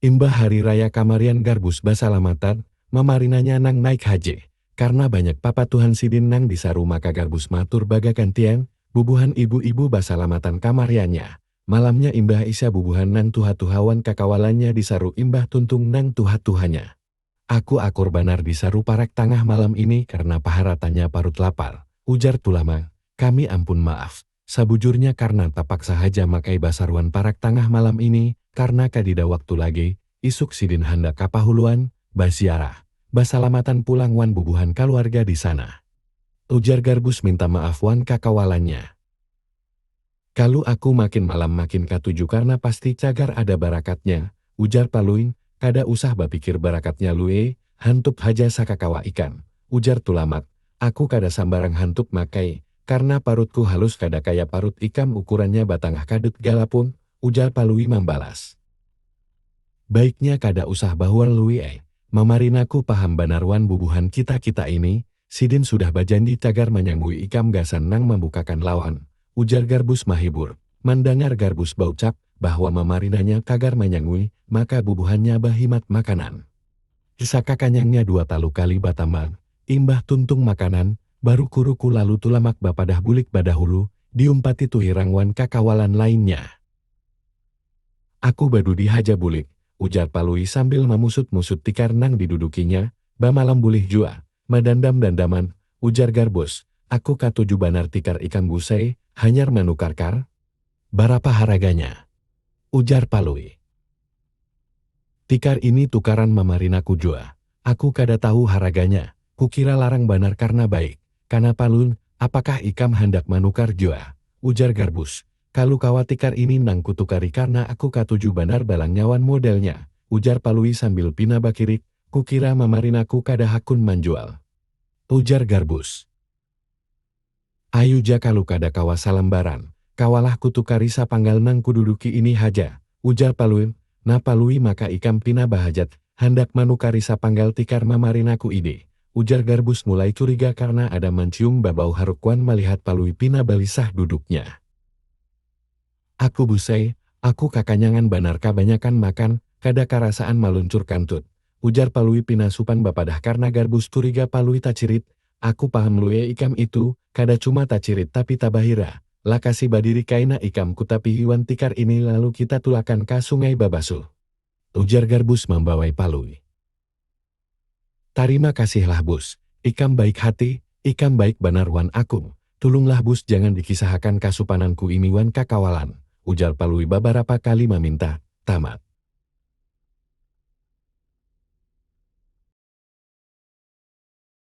Imbah hari raya kamarian Garbus basalamatan, mamarinanya nang naik haji. Karna banyak papatuhan sidin nang disaru maka Garbus matur bagagantian, bubuhan ibu-ibu basalamatan kamariannya. Malamnya imbah isya bubuhan nang tuha-tuha wan kakawalannya disaru imbah tuntung nang tuha-tuhanya. Aku akur banar di saruparak tangah malam ini karna paharatannya parut lapar, ujar Tulamang. Kami ampun maaf, sabujurnya karna tapaksa haja makai basaruan parak tangah malam ini karna kadida waktu lagi, isuk sidin handak ka Pahuluan baziarah, basalamatan pulang wan bubuhan kaluarga di sana. Ujar Garbus minta maaf wan kakawalannya. Kalu aku makin malam makin katuju karna pasti cagar ada barakatnya, ujar Palui, kada usah bapikir barakatnya Lui, hantup haja sakakawa ikan, ujar Tulamak, aku kada sambarang hantup Mak ai, karna parutku halus kada kaya parut ikam ukurannya batangah kadut galapung, ujar Palui mambalas. Baiknya kada usah bahual Lui ai, mamarinaku paham banar wan bubuhan kita-kita ini, Sidin sudah bajandi cagar manyambui ikam gasan nang mambukakan lawan, ujar Garbus mahibur. Mandangar Garbus baucap bahwa mamarinanya cagar manyangui, maka bubuhannya bahimat makanan. Saka kanyangnya dua talu kali batambang, imbah tuntung makanan, baruku-ruku lalu Tulamak bapadah bulik badahulu, diumpati Tuhirang wan kakawalan lainnya. Aku badudi haja bulik, ujar Palui sambil mamusut-musut tikar nang didudukinya, Bamalam bulih jua, madandam-dandaman, ujar Garbus, aku katuju banar tikar ikam gusai, hanyar manukar kar? Barapa haraganya? ujar Palui. Tikar ini tukaran mamarinaku jua, aku kada tahu haraganya, kukira larang banar karna baik, kana Palun, apakah ikam handak manukar jua? ujar Garbus, kalu kawa tikar ini nang kutukari karna aku katuju banar balangnya wan modelnya, ujar Palui sambil pina bakirik, Kukira mamarinaku kada hakun manjual. Ujar Garbus. Ayu ja kalu kada kawa salambaran, kawalah kutukari sapanggal nang kududuki ini haja, ujar Palui, nah Palui maka ikam pina bahajat handak manukari sapanggal tikar mamarinaku ini, ujar Garbus mulai curiga karna ada mancium babau haruk wan malihat Palui pina balisah duduknya. Aku Busai, aku kakanyangan banar kabanyakan makan, kada karasaan maluncur kantut, ujar Palui pina supan bapadah karna Garbus curiga Palui tacirit, aku paham Luie ikam itu, kada cuma tacirit tapi tabahira, lakasi badiri kaina ikam kutapihi wan tikar ini lalu kita tulakan ka sungai babasuh. Ujar Garbus mambawai Palui. Tarima kasih lah bus, ikam baik hati, ikam baik banar wan akung, tulung lah bus jangan dikisahakan kasupanan ku ini wan kakawalan, ujar palui babarapa kali maminta, tamat.